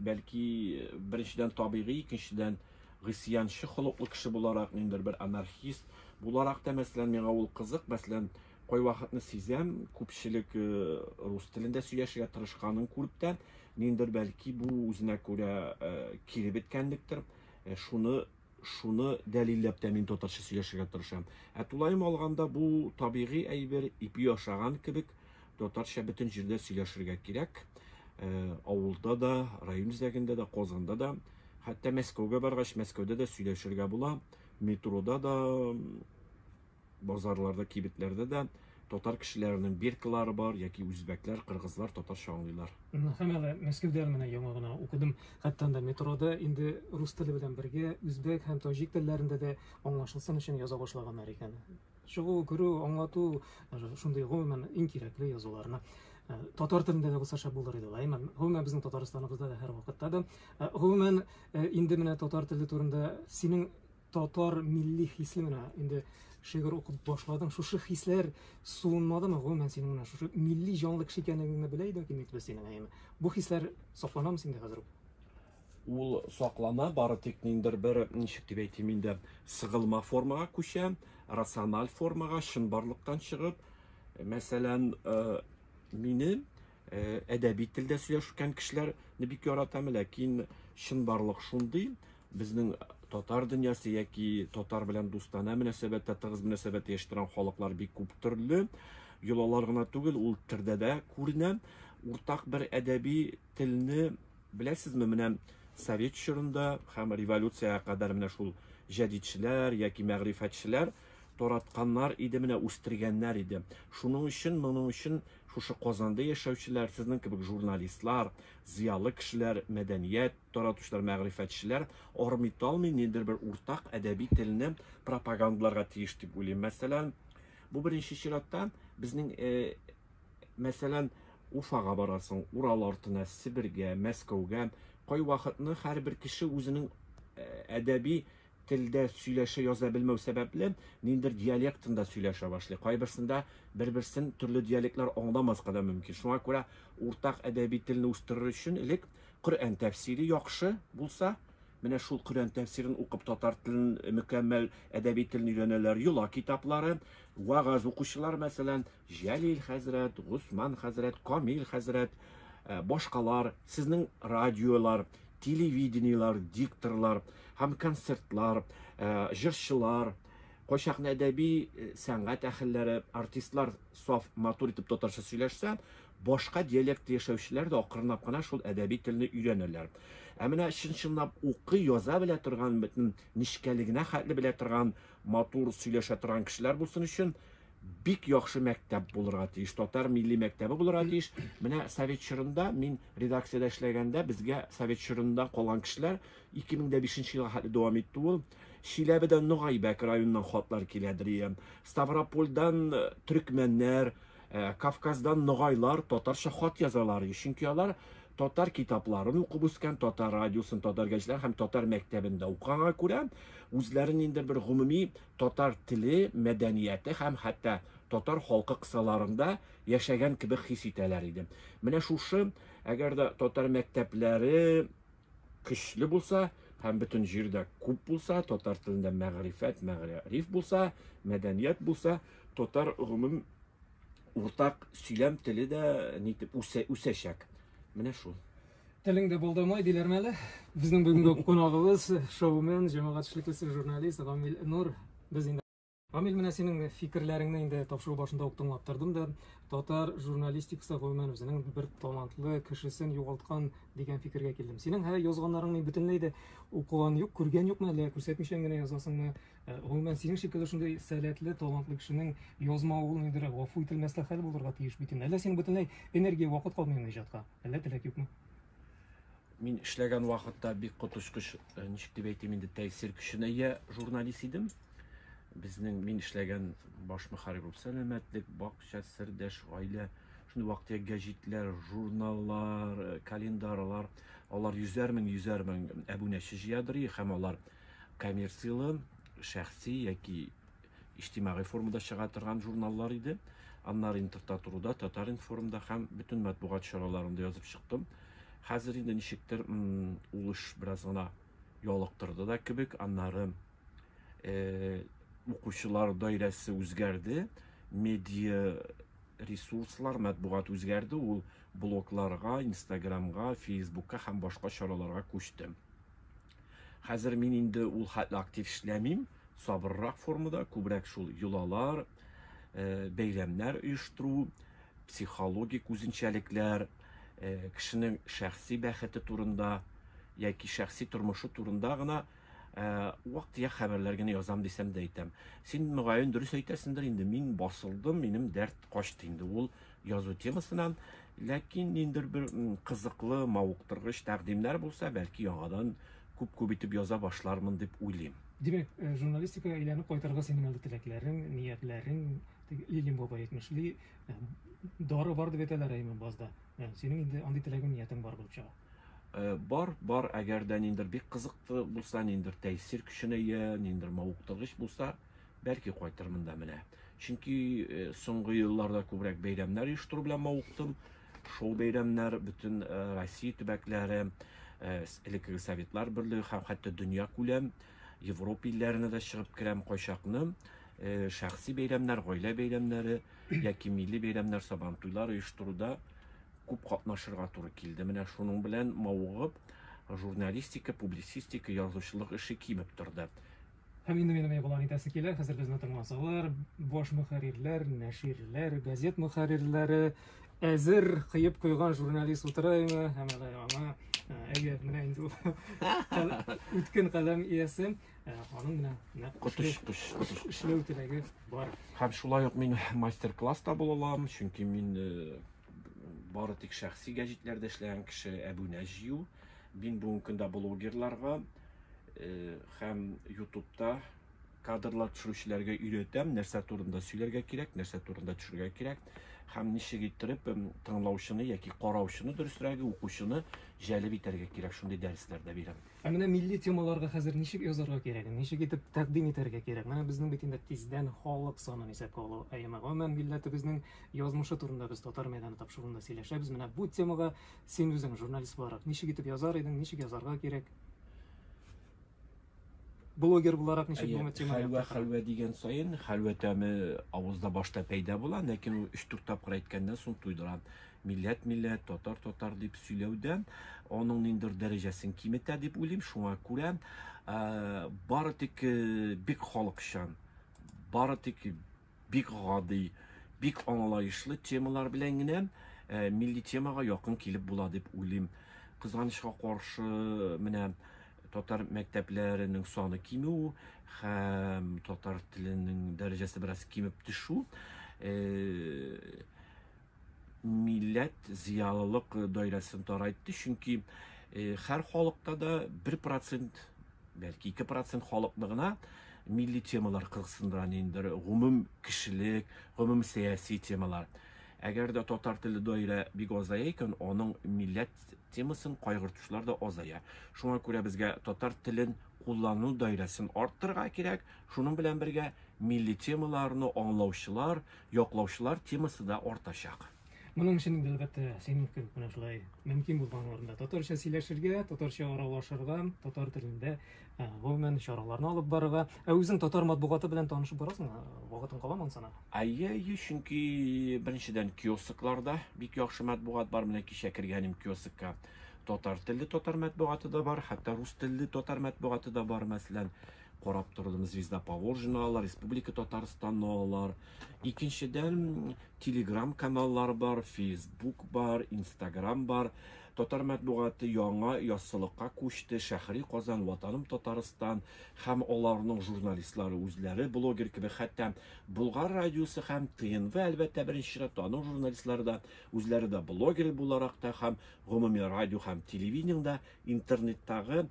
Бәлки, беренчедән табигый, икенчедән гысьянчы холыклы кеше буларак, ниндидер бер анархист буларак та, мәсәлән, миңа ул кызык, мәсәлән, кайвакытны сизәм, күпчелек э, рус телендә сөйләшергә тырышканын күреп тә, ниндидер бәлки бу үзенә күрә э, кире беткәнлектер, э, шуны шуны дәлилләп тә мин татарча сөйләшергә тырышам. Ә тулаем алганда бу табигый әйбер, ипи ашаган кебек, татарча бөтен җирдә сөйләшергә кирәк. Э, авылда да, район үзәгендә дә, Казанда да, хәтта Мәскәүгә баргач, Мәскәүдә дә сөйләшергә була, метрода да, Базарларда, кибетләрдә дә татар кешеләренең биркалары бар, яки үзбәкләр, кыргызлар татарча аңлыйлар. Һәм әле Мәскәүдә менә яңа гына укыдым. Хәтта анда метрода инде рус теле белән бергә үзбәк һәм таҗик телләрендә дә аңлашылсын өчен яза башлаганнар икән. Чыгу, керү, аңлату, шундый гомумән иң кирәкле язуларны. Э, татар телендә дә булса шәп булыр иде, лайман. Гомумән безнең Татарстаныбызда да һәрвакытта да. Э, гомумән э, инде менә татар теле турында синең татар милли хисе менә инде шигырь укып башладың шушы хисләр суынмадымы гомумән синең менә шушы милли җанлы кеше икәнлегеңне белә идең кимик без синең әйеме бу хисләр сакланамы синдә хәзер үк ул саклана бары тик ниндер бер ничек дип әйтим инде сыгылма формага күчә рациональ формага чынбарлыктан чыгып мәсәлән э, мине Э, әдәби телдә сөйләшкән кешеләрне бик яратам ләкин чынбарлык шундый безнең татар дөньясы яки татар белән дустана мөнәсәбәттә тыгыз мөнәсәбәт яшьтирән халыклар бик күп төрле йолалар гына түгел ул тердә дә күренә уртак бер әдәби телне беләсезме менә совет чорында һәм революциягә кадәр менә шул җәдидчеләр яки мәгърифәтчеләр Таратканнар иде менә үстергәннәр иде. Шуның өчен, моның өчен шушы Казанда яшәүчеләр, сезнең кебек журналистлар, зыялы кешеләр, мәдәният таратучылар, мәгърифәтчеләр армый талмый ниндидер бер уртак әдәби телне пропагандаларга тиеш дип уйлыйм. Мәсәлән, бу беренче чиратта безнең э, мәсәлән, Уфага барасың, Урал артына, Себергә, Мәскәүгә, кайвакытны һәрбер кеше үзенең э, әдәби телдә сөйләшә яза белмәү сәбәпле, ниндидер диалектында сөйләшә башлый. Кайберсендә бер-берсен төрле диалектлар аңламаска да мөмкин. Шуңа күрә уртак әдәби телне үстерер өчен элек Коръән тәфсире яхшы булса, менә шул Коръән тәфсирен укып татар телен мөкәммәл әдәби телен өйрәнәләр. Йола китаплары, вагаз укучылар, мәсәлән, Җәлил хәзрәт, Госман хәзрәт, Камил хәзрәт, башкалар, сезнең радиолар, телевидениелар, дикторлар һәм концертлар, җырчылар, кайчакны әдәби сәнгать әхелләре, артистлар саф матур итеп татарча сөйләшсә, башка диалектта яшәүчеләр дә акрынлап кына шул әдәби телне өйрәнәләр. Ә менә чын-чынлап укый, яза белә торган, бөтен нечкәлегенә хәтле белә торган, матур сөйләшә торган кешеләр булсын өчен бик яхшы мәктәп булырга тиеш, татар милли мәктәбе булырга тиеш. Менә совет чорында мин редакциядә эшләгәндә безгә совет чорында калган кешеләр 2005 елга хәтле дәвам итте ул. Чиләбедән Нугайбәк районыннан хатлар килә дием. Ставропольдан э, төркмәннәр, э, Кавказдан ногайлар татарча хат язалар. Чөнки алар татар китапларын укып үскән, татар радиосын, татар гәҗитләрен һәм татар мәктәбендә укыганга күрә, үзләрен инде бер гомуми татар теле, мәдәнияте һәм хәтта татар халкы кысаларында яшәгән кебек хис итәләр иде. Менә шушы, әгәр дә татар мәктәпләре көчле булса һәм бөтен җирдә күп булса, татар телендә мәгърифәт, мәгъриф булса, мәдәният булса, татар гомум уртак сөйләм теле дә нитеп үсәчәк. Менә шул. Телеңдә булдымы диләрме әле? Безнең бүгенге кунагыбыз шоумен, җәмәгатьчелек эше журналист Гамил Нур. Без инде Гамил, менә синең фикерләреңне инде тапшыру башында ук тыңлап тордым да, татар журналистикасы гомумән үзенең бер талантлы кешесен югалткан дигән фикергә килдем. Синең һәр язганнарың мин бөтенләй дә укыган юк, күргән юкмы, әллә күрсәтмичән генә язасыңмы? Гомумән, синең шикелле шундый сәләтле, талантлы кешенең язмавы ул инде гафу ителмәслек хәл булырга тиеш бит инде. Әллә синең бөтенләй энергия, вакыт калмыймы иҗатка? Әллә теләк юкмы? Мин эшләгән вакытта бик коточкыч, э, ничек дип әйтим инде, тәэсир көченә ия журналист идем. Безнең мин эшләгән баш мөхәррир булып сәламәтлек, бакча, сердәш, гаилә, шундый вакытта гәҗитләр, журналлар, э, календарлар, алар йөзәр мең, йөзәр мең әбүнәче җыядыр и, һәм алар Коммерцияле, шәхси яки иҗтимагый формада чыга торган журналлар иде. Аннары Интертатуруда, Татар-информда һәм бөтен матбугат чараларында язып чыктым. Хәзер инде ничектер ул эш бераз гына ялыктырды да кебек. Аннары э, укучылар даирәсе үзгәрде, медиа ресурслар, матбугат үзгәрде, ул блогларга, инстаграмга, фейсбукка һәм башка чараларга күчте. Хәзер мин инде ул хәтле актив эшләмим, сабыррак формада, күбрәк шул йолалар, э, бәйләмнәр оештыру, психологик үзенчәлекләр, э, кешенең шәхси бәхете турында яки шәхси тормышы турында гына э, вак-төяк хәбәрләр генә язам дисәм дә әйтәм. Син мөгаен дөрес әйтәсендер инде, мин басылдым, минем дәрт качты инде. Ул язу темасынан, ләкин ниндер бер кызыклы, мавыктыргыч тәкъдимнәр булса, бәлки яңадан күп-күп итеп яза башлармын дип уйлыйм. Димәк, э, журналистикага әйләнеп кайтырга синең әле теләкләрең, ниятләрең, Лилин бабай әйтмешли, э, дары бар дип әйтәләр әйме базда. Э, синең инде андый теләгең, ниятең бар булып чыга. Бар, бар, әгәр дә ниндер бик кызыклы булса, ниндер тәэсир көченә ия, ниндер мавыктыргыч булса, Бәлки кайтырмын да менә. Чөнки э, соңгы елларда күбрәк бәйрәмнәр оештыру белән мавыктым. Шоу бәйрәмнәр бөтен э, Россия төбәкләре, э, элеккеге Советлар берлеге һәм хәтта дөнья күләм Европа илләренә дә чыгып керәм кайчакны. Э, шәхси бәйрәмнәр, гаилә бәйрәмнәре яки милли бәйрәмнәр, сабан туйлар оештыруда күп катнашырга туры килде. Менә шуның белән мавыгып, журналистика, публицистика, язучылык эше кимеп торды. Һәм инде минем игълан итәсе килә, хәзер безне тыңласалар, баш мөхәррирләр, нәширләр, газет мөхәррирләре әзер кыеп куйган журналист утыра име, һәм әле аңа әйе, менә инде үткен каләм иясе, аның менә нәкъ котыш кош котыш эшләү теләге бар. Һәм шулай ук мин мастер-класс та була алам, чөнки мин бары тик шәхси гәҗитләрдә эшләгән кеше әбүнә җыю Мин бүгенге көндә блогерларга һәм ютубта кадрлар төшерүчеләргә өйрәтәм, нәрсә турында сөйләргә кирәк, нәрсә турында төшергә кирәк һәм ничек иттереп тыңлаучыны яки караучыны дөресрәге, укучыны җәлеп итәргә кирәк, шундый дәресләр дә бирәм. Ә менә милли темаларга хәзер ничек язарга кирәк, ничек итеп тәкъдим итәргә кирәк? Менә безнең бит инде тиздән халык санын исәпкә алу аеме. Гомумән, милләтебезнең язмышы турында без татар мәйданы тапшыруында сөйләшәбез. Менә бу темага Син үзең, журналист буларак, ничек итеп язар идең, ничек язарга кирәк? Блогер буларак ничек бу темага? Хәлвә, хәлвә дигән саен, хәлвә тәме авызда башта пәйда була, ләкин ул 3-4 тапкыр әйткәннән соң туйдыра. Милләт, милләт, татар, татар дип сөйләүдән аның ниндер дәрәҗәсен киметә дип уйлыйм. Шуңа күрә бары тик бик халыкчан, бары тик бик гади, бик аңлаешлы темалар белән генә э, милли темага якын килеп була дип уйлыйм. Кызганычка каршы, менә татар мәктәпләренең саны кимү һәм татар теленең дәрәҗәсе бераз кимеп төшү э, милләт зыялылык даирәсен тарайтты, чөнки һәр халыкта да 1%, бәлки 2% халыкны гына милли темалар кызыксындыра инде, гомум кешелек, гомум сәяси темалар. Әгәр дә татар теле даирә бик азая икән, аның милләт темасын кайгыртучылар да азая. Шуңа күрә безгә татар телен куллану даирәсен арттырырга кирәк. Шуның белән бергә милли темаларны аңлаучылар, яклаучылар темасы да артачак. Моның өчен инде, әлбәттә, син мөмкин, менә шулай мөмкин булган урында татарча сөйләшергә, татарча аралашырга, татар телендә э, гомумән чараларны алып барырга. Ә үзең татар матбугаты белән танышып барасың, э, вакытың каламы ансана? Әйе, әйе, чөнки беренчедән киоскларда бик яхшы матбугат бар. Менә кичә кергәнем киоскка татар телле татар матбугаты да бар, хәтта рус телле татар матбугаты да бар, мәсәлән. Карап тордым, Звезда Поволжьены алар, Республика Татарстанны алар. Икенчедән, Telegram каналлар бар, Facebook бар, Instagram бар. Татар мәтбугаты яңа яссылыкка күчте, Шәхри Казан, Ватаным Татарстан һәм аларның журналистлары үзләре блогер кебек, хәтта Болгар радиосы һәм ТНВ, әлбәттә, беренче чиратта аның журналистлары да үзләре дә блогер буларак та һәм гомуми радио һәм телевидениедә интернеттагы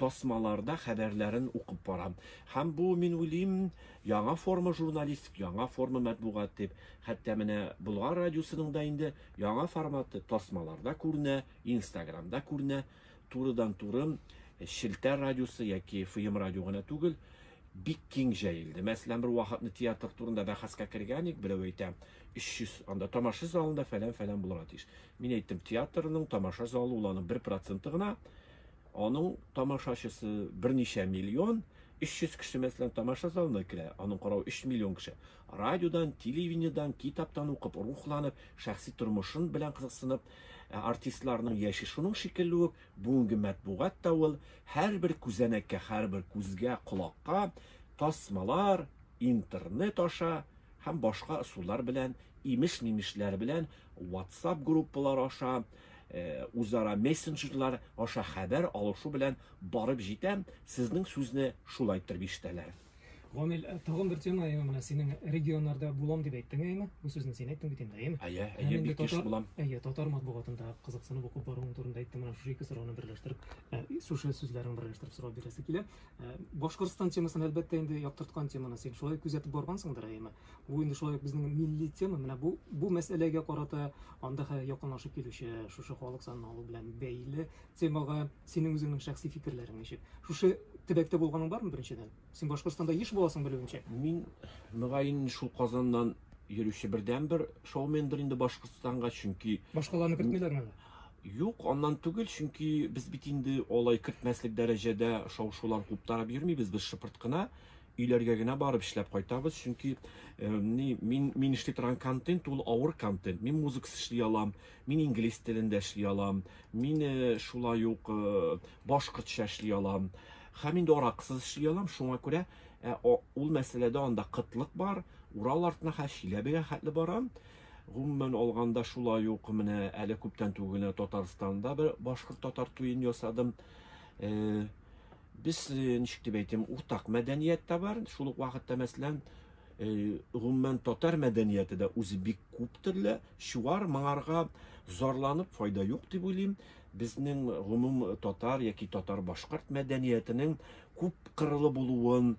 тасмаларда хәбәрләрен укып барам. Һәм бу, мин уйлыйм, яңа форма журналистик, яңа форма мәтбугат дип. Хәтта менә Болгар радиосының да инде яңа форматы, тасмаларда күренә, инстаграмда күренә. Турыдан-туры Челтәр радиосы яки ФМ радио гына түгел, бик киң җәелде. Мәсәлән, бер вакытны театр турында бәхәскә кергән идек, берәү әйтә, 300 анда тамаша залында фәлән-фәлән булырга тиеш. Мин әйттем, театрның тамаша залы ул аның бер проценты гына. Аның тамашачысы берничә миллион, 300 кеше мәсәлән тамаша залына керә, аның каравы 3 миллион кеше. Радиодан, телевидениедән, китаптан укып, рухланып, шәхси тормышын белән кызыксынып, ә артистларның яше шуның шикелле үк, бүгенге мәтбугат та ул, һәрбер күзәнәккә, һәрбер күзгә, колакка, тасмалар, интернет аша һәм башка ысуллар белән, имеш-мимешләр белән WhatsApp группалары аша, үзара мессенджерлар аша хәбәр алышу белән барып җитә, сезнең сүзне шулай иттереп ишетәләр. Гамил, тагын бер тема, әйеме, менә синең регионнарда булам дип әйттең, әйеме? Бу сүзне син әйттең бит инде, әйеме? Әйе, әйе, бик еш булам. Әйе, татар матбугатында кызыксынып укып баруың турында әйттең, менә шушы ике сорауны берләштереп, шушы сүзләрен берләштереп сорау бирәсе килә. Башкортстан темасын, әлбәттә, инде яктырткан теманы син шулай күзәтеп баргансыңдыр, әйеме? Бу инде шулай безнең милли тема. Менә бу бу мәсьәләгә карата анда хәзер якынлашып килүче шушы халык санын алу белән бәйле темага синең үзеңнең шәхси фикерләрең ничек? Шушы төбәктә булганың бармы беренчедән? Син Башкортстанда еш буласың белүемчә. Мин мөгаен шул Казаннан йөрүче бердән бер шоумендер инде Башкортстанга, чөнки Башкаларны кертмиләрме? Юк, аннан түгел, чөнки без бит инде алай кертмәслек дәрәҗәдә шау-шулар куптарып йөрмибез, без шыпырт кына Өйләргә генә барып эшләп кайтабыз, чөнки ни, мин, мин эшли торган контент ул авыр контент. Мин музыкс эшли алам, мин инглиз телендә эшли алам, мин шулай ук башкортча эшли алам. Һәм инде аракысыз эшли алам, шуңа күрә ә, ул мәсьәләдә анда кытлык бар. Урал артына хә Чиләбегә хәтле барам. Гомумән алганда шулай ук менә әле күптән түгел Татарстанда бер башкорт татар туен ясадым. Э, Без, ничек дип әйтим, уртак мәдәният тә бар, шул ук вакытта, мәсәлән, гомумән, татар мәдәнияте дә үзе бик күп төрле, чуар, моңарга зарланып файда юк дип уйлыйм. Безнең гомум татар яки татар-башкорт мәдәниятенең күп кырлы булуын,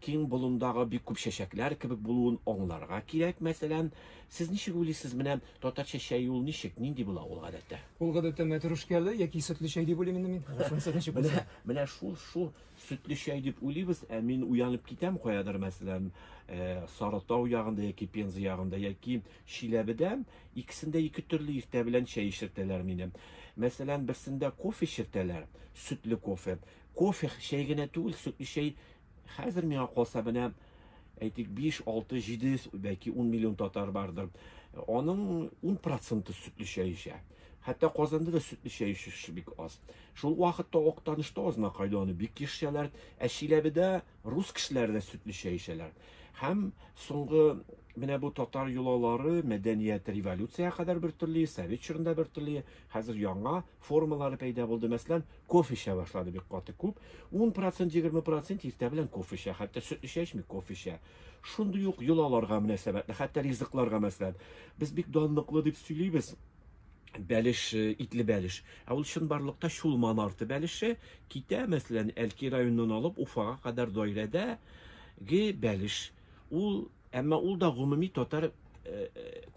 киң болындагы бик күп чәчәкләр кебек булуын аңларга кирәк. Мәсәлән, сез ничек уйлыйсыз, менә Татарча чәй ул ничек, нинди була ул гадәттә? Ул гадәттә мәтрүшкәле яки сөтле чәй дип уйлыйм инде мин. Шунысы ничек Менә, булса. менә шул, шул сөтле чәй дип уйлыйбыз, ә мин уянып китәм каядыр, мәсәлән, э, Сарытау ягында яки Пенза ягында яки Чиләбедә, икесендә ике төрле иртә белән чәй эчертәләр мине. Мәсәлән, берсендә кофе эчертәләр, сөтле кофе. Кофе, чәй генә түгел, сөтле чәй Хәзер миңа калса менә әйтик 5, 6, 700, бәлки 10 миллион татар бардыр. Аның 10 проценты сөтле чәй эчә. Хәтта Казанда да сөтле чәй эчүче бик аз. Шул вакытта Актанышта азна кайда аны бик ешчәләр, ә Чиләбедә рус кешеләре дә сөтле чәй эчәләр. Һәм соңгы менә бу татар йолалары мәдәният революция кадәр бер төрле, совет чорында бер төрле, хәзер яңа формалары пәйда булды. Мәсәлән, кофе эчә башлады бик каты күп. 10%, 20% иртә белән кофе эчә, хәтта сөт эчәчми, кофе эчә. Шундый ук йолаларга мөнәсәбәтле, хәтта ризыкларга мәсәлән. Без бик данлыклы дип сөйлибез. Бәлеш, э, итле бәлеш. Ә ул чынбарлыкта Чулман арты бәлеше китә, мәсәлән, Әлки районыннан алып Уфага кадәр даирәдәге бәлеш. Ул, әмма ул да гомуми татар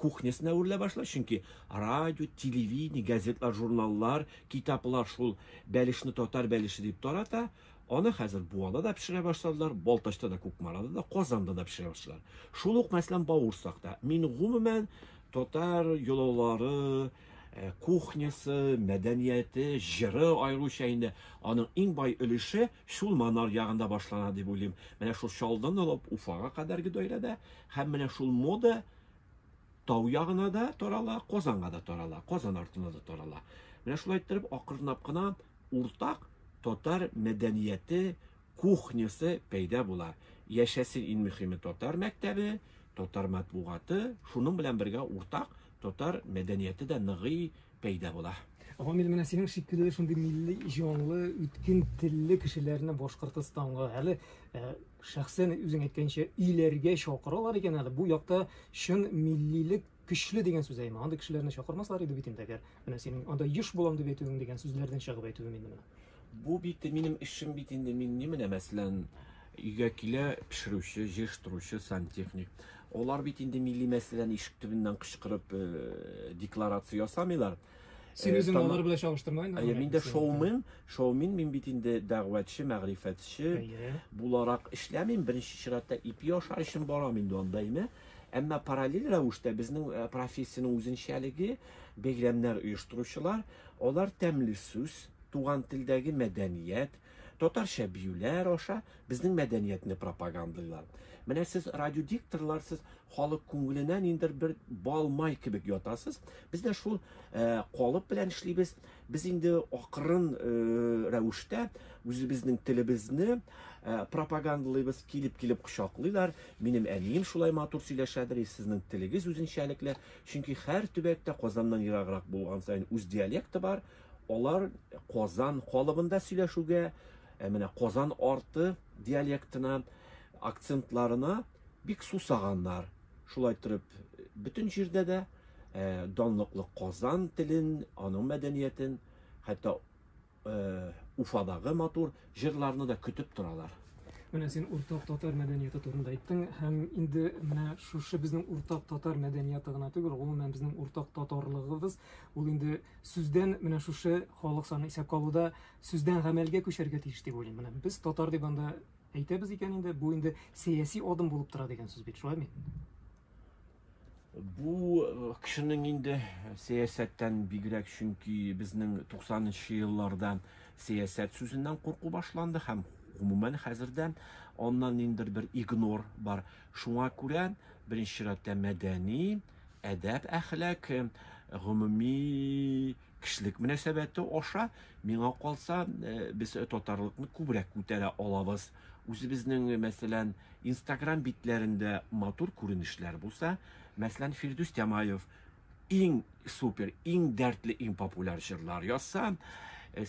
кухнясына әверелә башлый, чөнки радио, телевидение, газетлар, журналлар, китаплар шул бәлешне татар бәлеше дип тарата. Аны хәзер Буада да пешерә башладылар, Балтачта да, Кукмарада да, Казанда да пешерә башладылар. Шул ук, мәсәлән, Бауырсакта. Мин гомумән татар йолалары, э, кухнясы, мәдәнияте, җыры аеруча инде аның иң бай өлеше Шул Манар ягында башлана дип уйлыйм. Менә шул Чаллыдан алып Уфага кадәрге даирәдә һәм менә шул мода тау ягына да тарала, Казанга да тарала, Казан артына да тарала. Менә шулай иттереп акырынлап кына уртак татар мәдәнияте, кухнясы пәйда була. Яшәсен иң мөһиме татар мәктәбе, татар матбугаты, шуның белән бергә уртак Татар мәдәнияте дә ныгый, пәйда була. Гамил, менә синең шикелле шундый милли җанлы, үткен телле кешеләрне Башкортостанга әле э, шәхсән үзең әйткәнчә өйләргә чакыралар икән әле. Бу якта чын миллилек көчле дигән сүз әйме. Андый кешеләрне чакырмаслар иде бит инде әгәр. Менә синең анда еш булам дип әйтүең дигән сүзләрдән чыгып әйтүем инде менә. Бу бит минем эшем бит инде, мин ни менә, мәсәлән, өйгә килә пешерүче, җыештыручы, сантехник. Алар бит инде милли мәсьәләне ишек төбеннән кычкырып э, декларация ясамыйлар. Син үзең Тама- алар белән чагыштырма инде. Әйе, мин дә шоумен, шоумен, мин бит инде дәгъвәтче, мәгърифәтче Әйе. буларак эшләмим. Беренче чиратта ипи аша эшем барам инде анда әйме. Әмма параллель рәвештә безнең э, профессиянең үзенчәлеге, бәйрәмнәр оештыручылар, алар тәмле сүз, туган телдәге мәдәният, татарча биюләр аша безнең мәдәниятне пропагандлыйлар. Менә сез радиодикторлар, сез халык күңеленә ниндер бер балмай кебек ятасыз. Без дә шул э, калып белән эшлибез. Без инде акрын э, рәвештә үзебезнең телебезне э, пропагандлыйбыз, килеп-килеп кочаклыйлар. Минем әнием шулай матур сөйләшәдер, сезнең телегез үзенчәлекле. Чөнки һәр төбәктә Казаннан ераграк булган саен үз диалекты бар. Алар Казан калыбында сөйләшүгә, ә менә Казан арты диалектына, акцентларына бик сусаганнар. Шулай торып, бөтен җирдә дә данлыклы Казан телен, аның мәдәниятен, хәтта Уфадагы матур җырларны да көтеп торалар. Менә син уртак татар мәдәнияте турында әйттең һәм инде менә шушы безнең уртак татар мәдәнияте гына түгел, гомумән безнең уртак татарлыгыбыз, ул инде Сүздән менә шушы халык саны исәпкә алуда сүздән гамәлгә күчәргә тиеш дип уйлыйм. Менә без татар дип анда әйтәбез икән инде, бу инде сәяси адым булып тора дигән сүз бит, шулай микән? Бу э, кешенең инде сәясәттән бигрәк, чөнки безнең 90 нчы елларда сәясәт сүзеннән курку башланды һәм гомумән хәзердә аннан ниндер бер игнор бар. Шуңа күрә беренче чиратта мәдәни Әдәп әхлак, гомуми кешелек мөнәсәбәте аша миңа калса, без татарлыкны күбрәк күтәрә алабыз. Үзебезнең, мәсәлән, Instagram битләрендә матур күренешләр булса, мәсәлән, Фирдүс Тямаев иң супер, иң дәртле, иң популяр җырлар язса,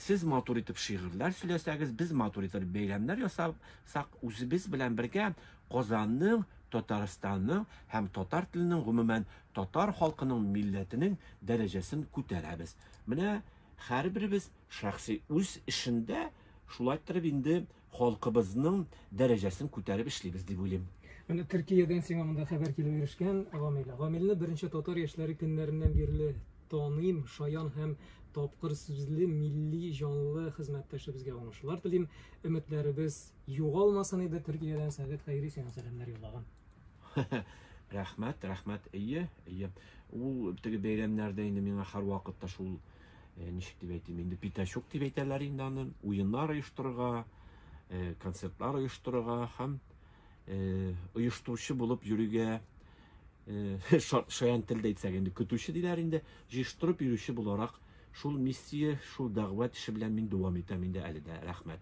сез матур итеп шигырьләр сөйләсәгез, без матур итеп бәйрәмнәр ясасак, үзебез белән бергә Казанның, Татарстанның һәм татар теленең, гомумән, татар халкының милләтенең дәрәҗәсен күтәрәбез. Менә һәрберебез шәхси үз эшендә шулай иттереп инде халкыбызның дәрәҗәсен күтәреп эшлибез дип уйлыйм. Менә Төркиядән сиңа монда хәбәр килеп ирешкән, Гамил. Гамилне беренче татар яшьләре көннәреннән бирле таныйм, шаян һәм тапкыр сүзле, милли җанлы хезмәттәшебезгә уңышлар телим. Өметләребез Югалмасын иде Төркиядән Сәгыйть Хәйри сиңа сәламнәр юллаган. Рәхмәт, рәхмәт. Әйе, әйе. Ул теге бәйрәмнәрдә инде миңа һәрвакыт та шул э, ничек дип әйтим, инде пятачок дип әйтәләр инде аны, уеннар оештырырга, э, концертлар оештырырга һәм э, оештыручы булып йөрергә шаян телдә әйтсәк инде көтүче диләр инде җыештырып йөрүче буларак шул миссия шул дәгъват эше белән мин дәвам итәм инде әле дә рәхмәт